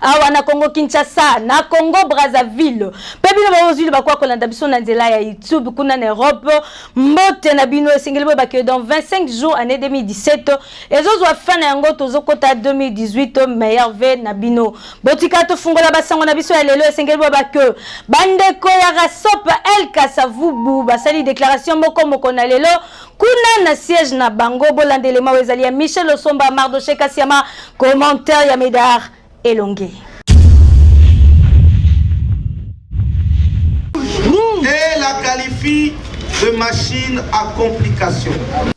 awa na congo kinshasa na congo brazzaville mpe bino baozwili bakoya kolanda biso na nzela ya youtube kuna na europe mbote na bino esengeli boyeba ke dans 25 jours année 2017 ezozwa fin na yango tozokota 2018 meilleur ve na bino botika tofungola basango na biso ya lelo esengeli boyeba ke bandeko ya rasop el kasavubu basali déclaration moko moko na lelo kuna na siège na bango bolanda elema oyo ezali ya michel osomba mardoche kasiama commentaire ya medar elongi et la qualifie de machine à complication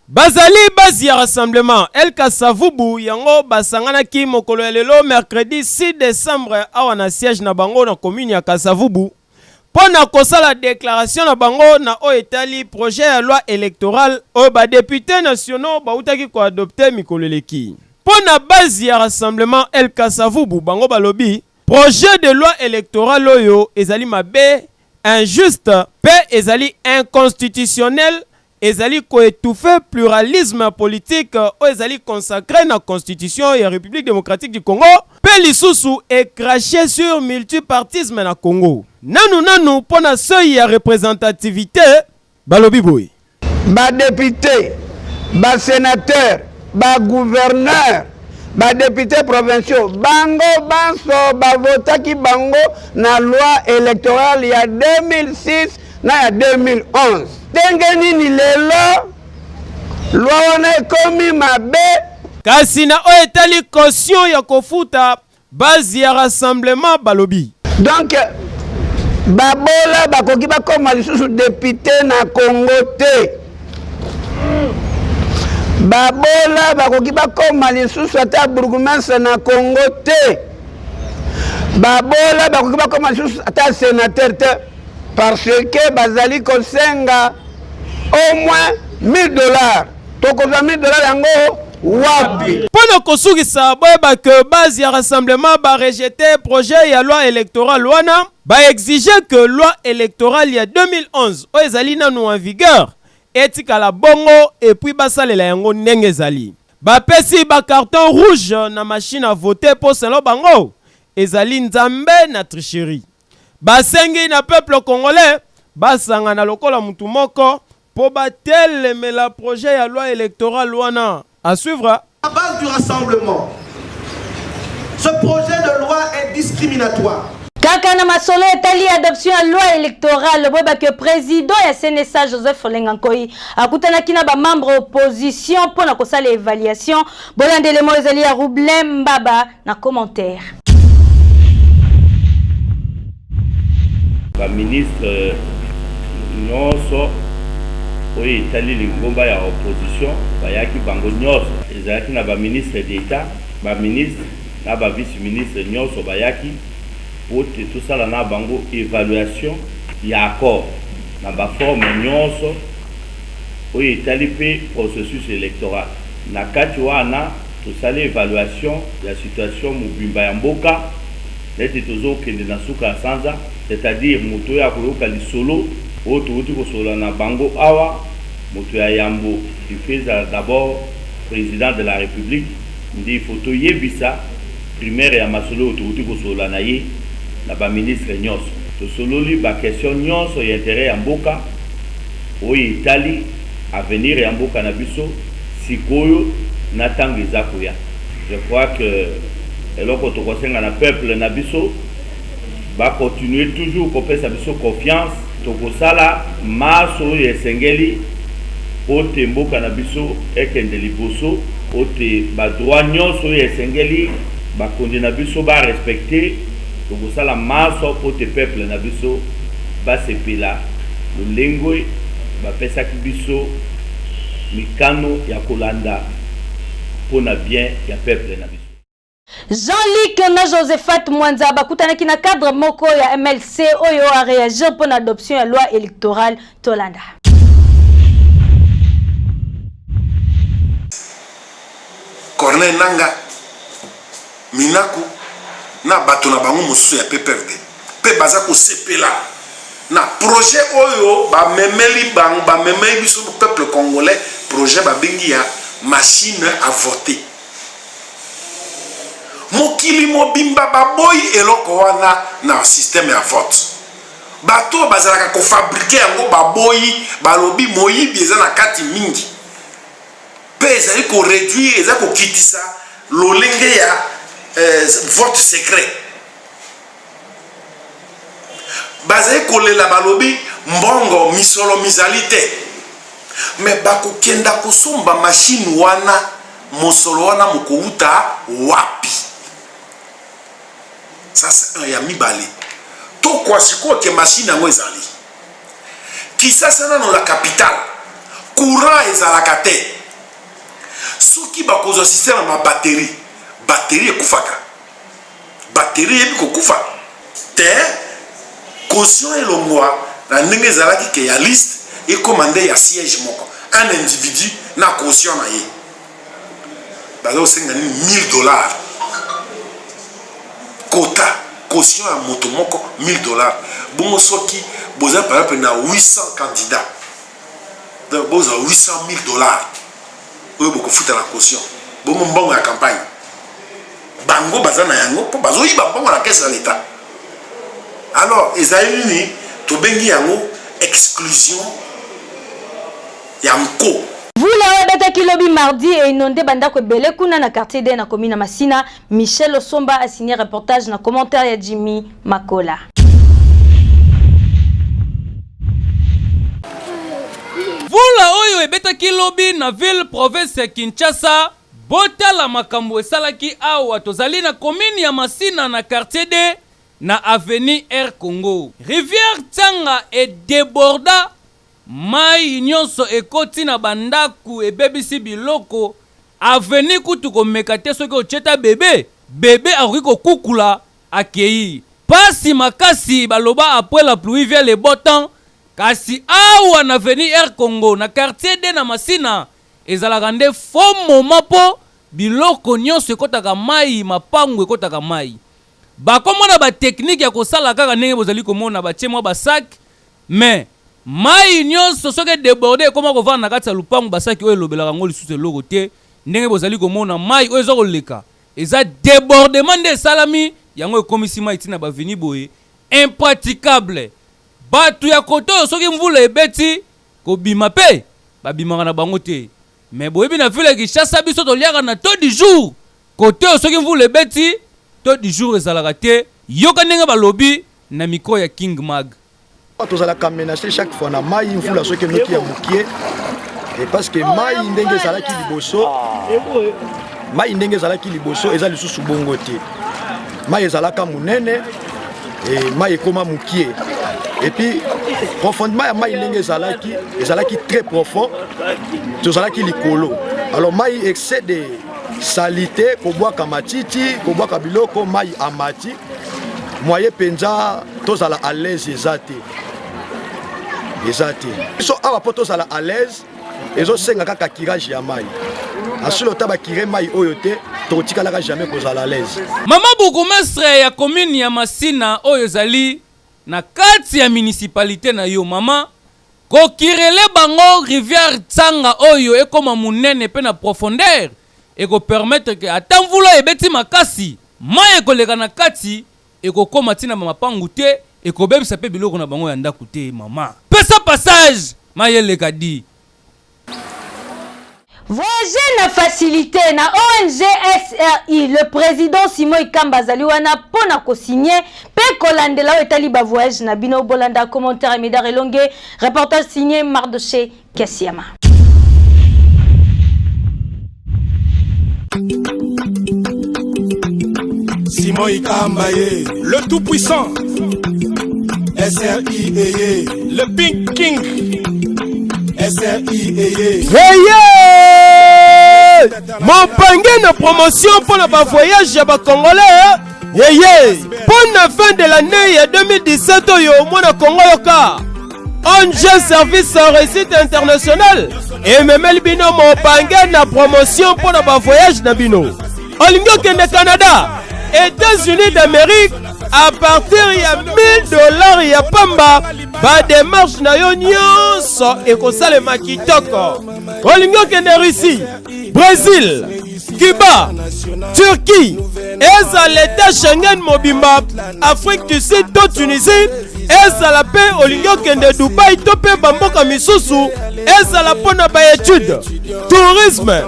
bazali basi ya rassemblement elka savubu yango basanganaki mokolo ya lelo mercredi 6 décembre awa na siège na bango na commune ya kasavubu mpo na kosala declaration na bango na oyo etali projet ya loi electorale oyo ba deputes nationaux bawutaki ko adopter mikolo eleki. Mpo na base ya Rassemblement El Kasavubu, bango balobi projet de loi electorale oyo ezali mabe, injuste mpe ezali inconstitutionnel ezali ko etouffer pluralisme politique oyo ezali consacre na constitution ya Republique democratique du Congo mpe lisusu e cracher sur multipartisme na Congo. Nanu nanu mpo na seuil ya representativite, balobi boye. Ba deputes, ba senateurs, ba gouverneurs, ba deputes provinciaux, bango banso ba votaki bango na loi electorale ya 2006, na ya 2011 ndenge nini lelo lwa wana ekomi mabe kasi na oyo etali caution ya kofuta base ya rassemblement balobi donc babola bakoki bakoma lisusu depute na congo te babola bakoki bakoma lisusu ata bourgmestre na congo te babola bakoki bakoma lisusu ata senateur te parce que bazali kosenga au moins 1000 dollars tokozwa 1000 dollars yango wapi mpo na kosukisa boyeba ke base ya rassemblement barejete projet ya loi électorale wana baexige ke loi électorale ya 2011 oyo ezali nanu en vigueur etikala bongo epuis basalela yango ndenge ezali bapesi bacarton rouge na machine à vote mpo selon bango ezali nzambe na tricherie Basengi na peuple congolais basangana lokola mutu moko po batelemela projet ya loi electorale wana. A suivre. La base du rassemblement, ce projet de loi est discriminatoire. Kaka na masolo etali adoption ya loi electorale, boyeba que president ya CNSA Joseph Olenga Nkoyi akutanaki na ba membres opposition mpo na kosala evaluation. Bolanda elema oyo ezali ya Roublain Mbaba. na commentaire. Ba ministre nyonso oyo etali lingomba ya opposition bayaki bango nyonso, ezalaki na ba ministre d'etat, ba ministre na ba vice ministre nyonso bayaki mpo te tosala na bango evaluation ya accord na ba forme nyonso oyo etali mpe processus electoral na kati wana Tosali evaluation ya situation mobimba ya mboka neti tozo kende na suka ya sanza, c'est à dire moto oyo akoyoka lisolo oyo towuti kosolola na bango awa, moto ya yambo il faut ezala d'abord President de la Republique nde il faut toyebisa primaire ya masolo oyo towuti kosolola na ye na ba ministres nionso. Tosololi ba questions nionso ya interet ya mboka oyo etali. avenir ya mboka na biso sikoyo na tango eza koya je crois que eloko tokosenga na peuple na biso ba continuer toujours kopesa biso confiance tokosala masse oyo esengeli pote mboka na biso ekende liboso pote ba droit nionso oyo esengeli bakonzi na biso ba respecter Tokosala manso po te peuple na biso basepela lolengue bapesaki biso mikano ya kolanda po na bien ya peuple na biso. Jean Luc na Josephat Mwanza bakutanaki na cadre moko ya mlc oyo a reagir mpo na adoption ya loi electorale Tolanda. Corneille Nanga, Minaku na bato na bango mosusu ya PPRD mpe baza kosepela na projet oyo bamemeli bango bamemeli biso peuple congolais projet babengi ya machine à voter mokili mobimba baboyi eloko wana na système ya vote Bato oyo bazalaka ko fabriquer yango baboyi, balobi moyibi eza na kati mingi mpe ezali ko reduire, ezali kokitisa lolenge ya eh, vote secret. Bazali kolela, balobi mbongo misolo mizali te, me bakokenda kosomba mashine wana, mosolo wana mokouta wapi? Ça c'est un ya mibale. Tokwa sikoyo ke machine yango ezali. Kisasa nano la capitale. Courant ezalaka te. Soki bakozwa système ya babatterie, batterie ekufaka. Batterie eyebi kokufa te. Caution elongwa na ndenge ezalaki ke ya liste ekoma nde ya siège moko. Un individu na caution na ye. baza kosenga nini 1000 dollars kota caution ya moto moko 1000 dollars bongo soki boza par exemple na 800 candidat donc bozwa 800 000 dollars oyo bokofuta na caution bongo mbongo ya campagne bango baza na yango mpo bazoyiba mbongo na kese ya leta alors ezali nini tobengi yango exclusion ya nko. Mvula oyo ebetaki lobi mardi e inonde ba ndako ebele kuna na quartier de na commune ya Masina. Michel Osomba a signer reportage na commentaire ya Jimmy Makola. Mvula oyo ebetaki lobi na ville province ya Kinshasa botala makambo esalaki awa tozali na commune ya Masina na quartier de na avenue Air Congo. Rivière Tsanga e deborda Mayi nionso ekoti na ba ndaku ebebisi biloko avenue kutu komeka te soki otie ata bebe bebe akoki kokukula akeyi pasi makasi baloba apres la pluie vient le beau temps kasi awa na avenue air congo na quartier de na masina ezalaka nde faux moment po biloko nionso ekotaka mayi mapangu ekotaka mayi bakomona ba technique ya kosala kaka ndenge bozali komona batie mwa ba sac Mais mayi nionso soki e deborder ekoma kovanda na kati ya lopangu ba saki oyo elobelaka yango lisusu eloko te ndenge bozali komona mayi oyo eza koleka eza debordement nde esalami yango ekomisi mayi ti na ba avenue boye impraticable batu ya kote oyo soki mvula ebeti kobima pe babimaka na bango te mais boyebi na ville ya Kinshasa biso toliaka na taux du jour kote oyo soki mvula ebeti taux du jour ezalaka te yoka ndenge balobi na micro ya King Mag. tozalaka menase chaque fois na mai mvula soki enoki ya mokie parce que mai ndenge ezalaki liboso mai ndenge ezalaki liboso eza lisusu bongo te mai ezalaka monene mai ekoma mokie epuis profondement ya mai ndenge ezalaki ezalaki très profond tozalaki likolo alors mai excès de salite kobwaka matiti kobwaka biloko mai amati moye mpenza tozala à l'aise eza te eza te biso awa mpo tozala à l'aise ezosenga kaka kirage ya mai asili ota bakire mai oyo te tokotikalaka jamais kozala à l'aise mama bourgmestre ya commune ya masina oyo ezali na kati ya municipalité na yo mama kokirele bango rivière tsanga oyo ekoma monene mpe na profondeur eko permettre que ata mvula ebeti makasi, mayi ekoleka na kati, ekokoma ti na ba mapangu te, ekobebisa pe biloko na bango ya ndaku te. Mama, pesa passage mayi eleka di. Voyager na facilite na ong SRI, le president Simon Ikamba azali wana po na ko signer pe kolandela oyo etali ba voyages na bino. Bolanda commentaire ya Medard Elongue, reportage signer Mardochee. Kesiama. Simon Ikamba ye, le tout puissant. SRI eye, le Pink King. SRI eye. Hey yeah! Mopange na promotion mpo na bavoyage ya bacongolais yeye mpo na fin de l'année ya 2017 oyo mwana kongo yoka Ange Service Réussite International ememeli bino mopange na promotion mpo na bavoyage na bino olingi okende canada états-unis d'amérique à partir ya 1000 dollars ya pamba bademarche na yo nyonso ekosalema kitoko olingi okende russie Brésil, Cuba, Turquie, ezala l'État Schengen mobimba, Afrique du Sud to Tunisie, ezala mpe olingi okende Dubaï to mpe bamboka misusu, ezala mpo na baetude, tourisme,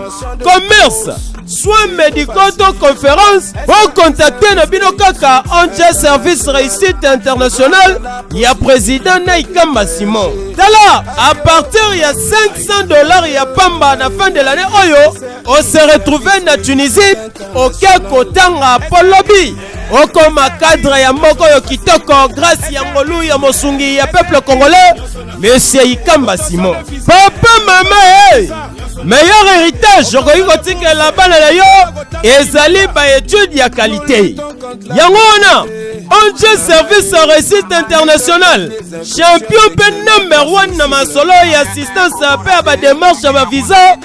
commerce, soins médicaux to conférence, bokontakte na bino kaka ONG Service Réussite International ya président Naikamba Simon. Tala, à partir ya 5 100 dollars ya pamba na fin de l'année oyo oh se retrouver na tunisie oke kotanga po lobi okoma cadre ya moko oyo kitoko grâce ya ngolu ya mosungi ya peuple congolais monsieur ikamba simon papa mama hey! Eh! meilleur héritage okoki kotikela bana na yo ezali baetude ya kalite yango wana ong service ya réussite internationale champion mpe number 1 na masolo ya assistance mpe ya bademarche ya bavisa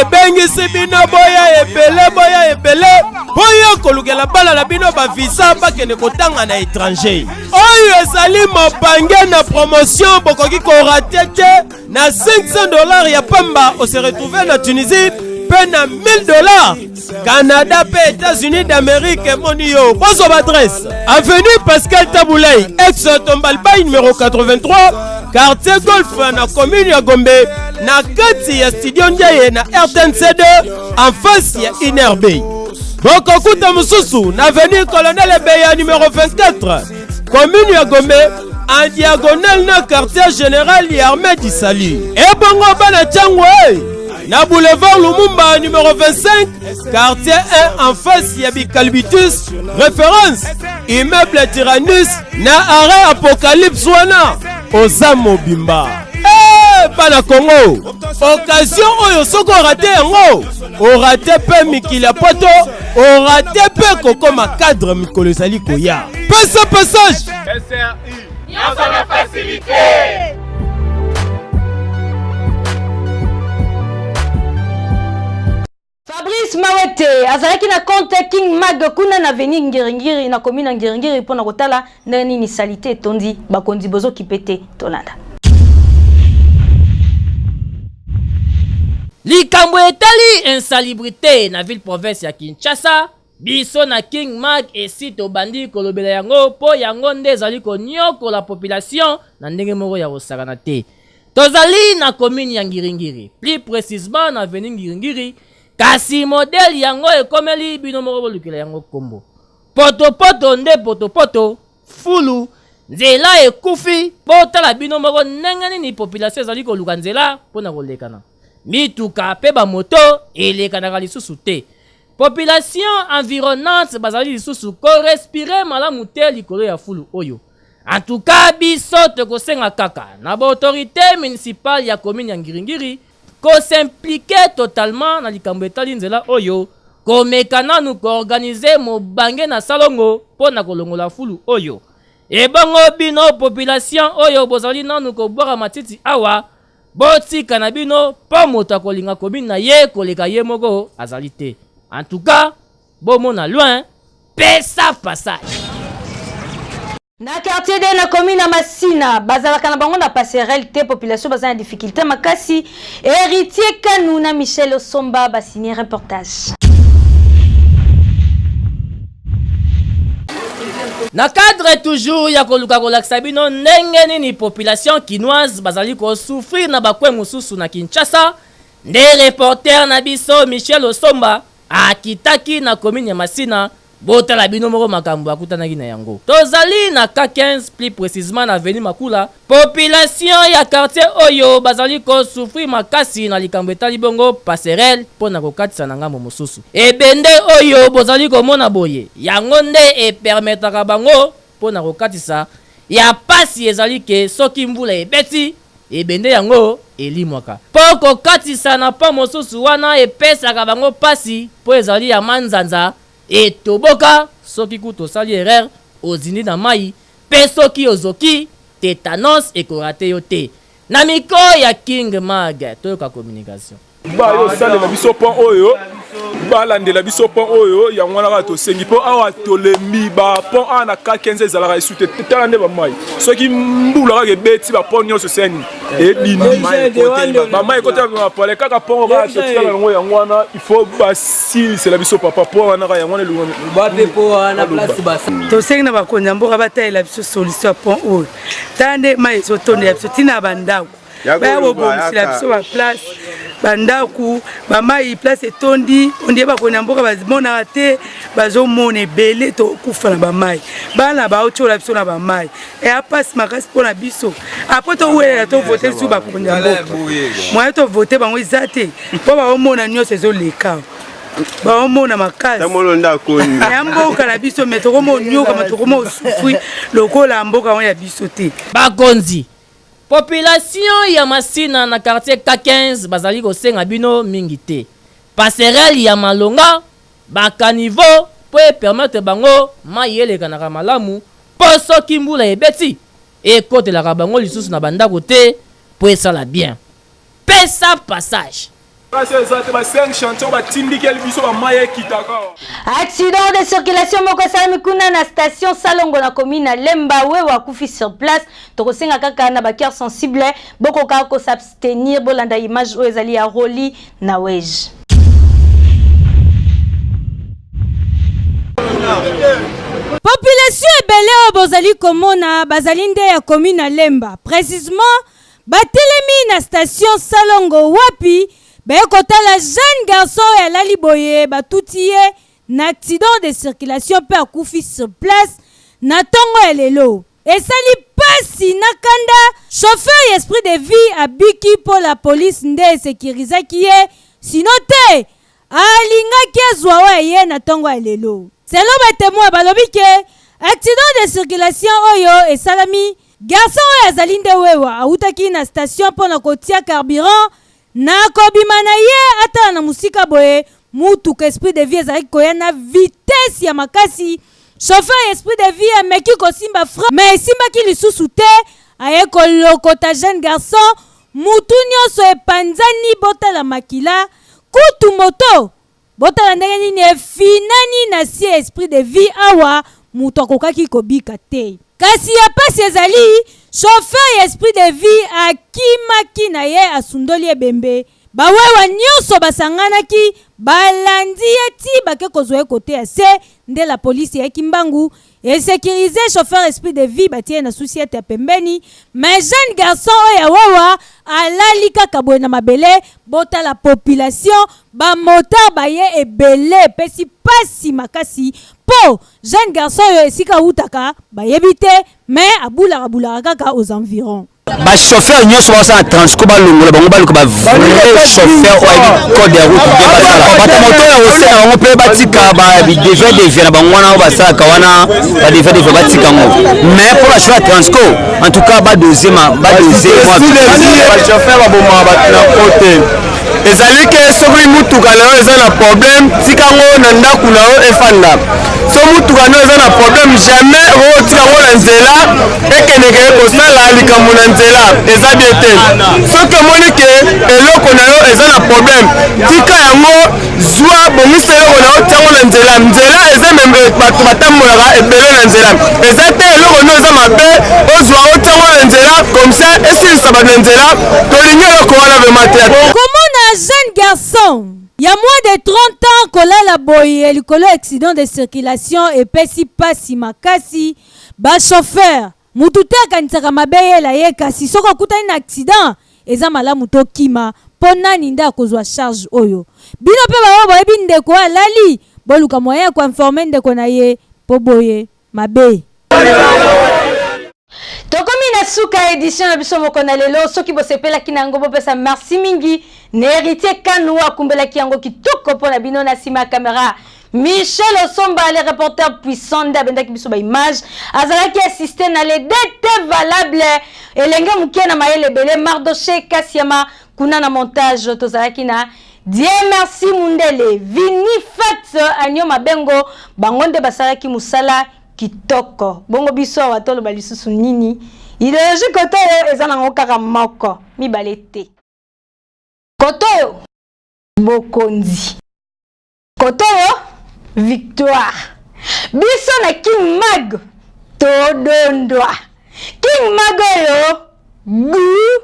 ebengisi bino boya ebele boya ebele boya kolukela bana na bino bavisa bakende kotanga na étranger oyo ezali mopange na promotion bokoki korate te na 500 dollars ya pamba ose retrouve na tunisie mpe na 1000 dollars canada mpe états-unis d'amérique emoni yo bozwa baadresse avenue pascal tabulai ex tombalbai numero 83 quartier golf na commune ya gombe na kati ya studio ndiaye na rtnc2 en face ya inerbe bokokuta mosusu na avenue colonel ebeya numero 24 komini ya gombe en diagonale na quartier général ya armée du salut ebongo bana ntango e na boulevard lumumba numero 25 quartier 1 en face ya bicalbitus référence immeuble tyrannus na arrêt apocalypse wana oza mobimba Eh, bana kongo okazio oyo soki orate yango orate mpe mikili ya poto orate mpe kokoma cadre mikolo ezali koya pesa passage sri nyonso na fasilite fabrice mawete azalaki na compte king mag kuna na avenir ngiringiri na komi na ngiringiri mpo na kotala ndenge nini salite etondi bakonzi bozokipe te tolanda likambo etali insalubrité na ville province ya kinshasa biso na king mark esi tobandi kolobela yango mpo yango nde ezali konyokola population na ndenge moko ya kosakana te tozali na komini ya ngiringiri plus précisement na veni ngiringiri kasi modele yango ekomeli bino moko bolukela yango nkombo Potopoto nde potopoto, fulu, nzela ekufi. Botala bino moko ndenge nini population ezali koluka nzela mpo na kolekana. Mituka mpe bamoto elekanaka lisusu te. Population environnante bazali lisusu korespire malamu te likolo ya fulu oyo. En tout cas, biso tokosenga kaka na baautorite municipale ya commune ya Ngiringiri Ko s'impliquer totalement na likambo etali nzela oyo, komeka nanu ko organiser mobange na salongo mpo na kolongola fulu oyo. Ebongo bino population oyo bozali nanu kobwaka matiti awa, botika na bino mpo moto akolinga commune na ye koleka ye moko azali te. En tout cas, bomona loin, pesa passage. na quartier de na commune ya masina bazalaka na bango na passerelle te population baza na difficulté makasi héritier kanu na michel osomba basigne reportage na cadre toujours ya koluka kolakisa bino ndenge nini population kinoise bazali kosouffrir na bakwe mosusu na kinshasa nde reporter na biso michel osomba Akitaki na commune ya Masina, botala bino moko makambo akutanaki na yango. Tozali na cas 15, plus precisement na avenue Makula, population ya quartier oyo bazali ko souffrir makasi na likambo etali bongo passerelle mpo na kokatisa na ngambo mosusu. Ebende oyo bozali komona boye, yango nde e permetaka bango, Mpo na kokatisa, ya pasi ezali ke soki mvula ebeti, ebende yango elimwaka. Mpo kokatisa na pont mosusu wana epesaka bango pasi mpo ezali ya manzanza, etoboka, soki kutu osali erreur, ozindi na mayi, mpe soki ozoki, tetanos eko rater yo te. Na micro ya King Mag, toyoka communication. bayo osalela biso mpo oyo balandela biso mpo oyo yango wana kaka tosengi mpo awa tolembi bapont awa na kakenza ezalaka esu te tala nde bamai soki mbula kaka ebeti bapont nyonso seni ebindibamai ekota mapale kaka mpongo kaka totikala yango yango wana ifo basilisela biso papa mpo wana kaka yango wana tosengi na bakonzi ya mboka batalela biso solution ya pont oyo tala nde mai ezotondela biso ntina ya bandako baya bobongisela biso baplace bandako bamai place etondi ondie bakoi na mboka bamonaka te bazomona ebele tokufa na bamai bana baotyola biso na bamai eya mpasi makasi mpo na biso apres towelela tovote lisusu bakonzi ya mboka moye tovote bango eza te mpo baomona nyonso ezoleka baomona makasiya mboka na biso me tokomonyoka ma tokomosufi lokola mboka yango ya biso te bakonzi Population ya Masina na quartier K15 bazali kosenga bino mingi te, passerelle ya malonga, ba caniveaux mpo e permettre bango mayi elekanaka malamu mpo soki mbula ebeti ekotelaka bango lisusu na ba ndako te mpo esala bien. pesa passage accident de circulation moko esalami kuna na station salongo na commune na lemba wewe akufi sur place tokosenga kaka na bacoeur sensible bokoka kosabstenir bolanda image oyo ezali ya roli na wege population ebele oyo bozali komona bazali nde ya commune na lemba précisement Batelemi na station salongo wapi baye kotala jeune garçon oyo alali boye batuti ye na accident de circulation mpe akufi sur place na tongo ya lelo. Esali pasi na kanda, chauffeur ya Esprit de vie abiki mpo la police nde e securisaki ye sinon te Alingaki azua oyo eye na tongo ya lelo. Selon ba temoins, balobi que accident de circulation oyo esalami, garçon oyo azali nde wewa, awutaki na station mpo na kotia carburant, na kobima na ye atala na mosika boye, mutuka Esprit de vie ezalaki koya na vitesse ya makasi, chauffeur ya Esprit de vie ameki kosimba frein mais esimbaki lisusu te, aye kolokota jeune garçon, mutu nionso epanzani, botala makila. Kutu moto botala ndenge nini efinani na sie esprit de vie awa moto akokaki kobika te. Kasi ya pasi ezali chauffeur ya esprit de vie akimaki na ye asundoli ebembe ba wewa nionso basanganaki balandi ye ti bake kozwa ye kote ya se nde la police eyaki mbangu e securiser chauffeur esprit de vie batie na souciete ya pembeni mais jeune garçon oyo ya wawa alali kaka boye na mabele botala population bamotar baye ebele epesi mpasi makasi mpo jeune garçon oyo esika awutaka bayebi te mais abulaka bulaka kaka aux environs ba chauffeur nyonso basala transco balongola bango baluka ba vrai chauffeur oyo ayebi code ya route bien basala bato moto ya ose na bango mpe batika badevia devia na bango wana oyo basalaka wana badevia devia batika yango mais mpo bachauffeur ya transco en tout cas badose badose chauffeur babomaka bato na kote ezali ke soki motuka na yo eza na problème tika ngo na ndako na yo efanda so motuka na yo eza na problème jamais okotika ngo na nzela ekendeke kosala likambo na nzela eza bie te soki omoni ke eloko na yo eza na problème tika yango zwa bongisa eloko na yo ntango na nzela nzela eza meme bato batambolaka ebele na nzela eza te eloko nio eza mabe ozwa o ntango na nzela komsa esilisa bato na nzela tolingi eloko wana vrema te komona jeune garçon ya moins de 30 ans kolala boye likolo accident de circulation epesi mpasi makasi bachauffeur Mutu te akanisaka mabe yela ye kasi soki okutani na accident eza malamu to kima po nani nde akozua charge oyo bino pe ba oyo boyebi ndeko oyo alali boluka moyen ya ko informe ndeko na ye po boye mabe. Tokomi na suka ya edition na biso moko na lelo soki bosepelaki na yango bopesa merci mingi na heritier kanu akumbelaki yango kitoko mpo na bino na nsima ya camera Michel Osomba, le reporter puissant nde abendaki biso ba image azalaki assiste na le DT valable elenge moke na mayele ebele Mardoche Kasiama kuna na montage tozalaki na Dieu merci Mundele Vini Fat Agno Mabengo bango nde basalaki musala kitoko bongo biso awa toloba lisusu nini ideologie koto oyo eza nango kaka moko mibale te koto oyo bokonzi Kotoyo victoire. Biso na King Mag todondwa. King Mag oyo goût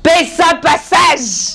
pesa passage.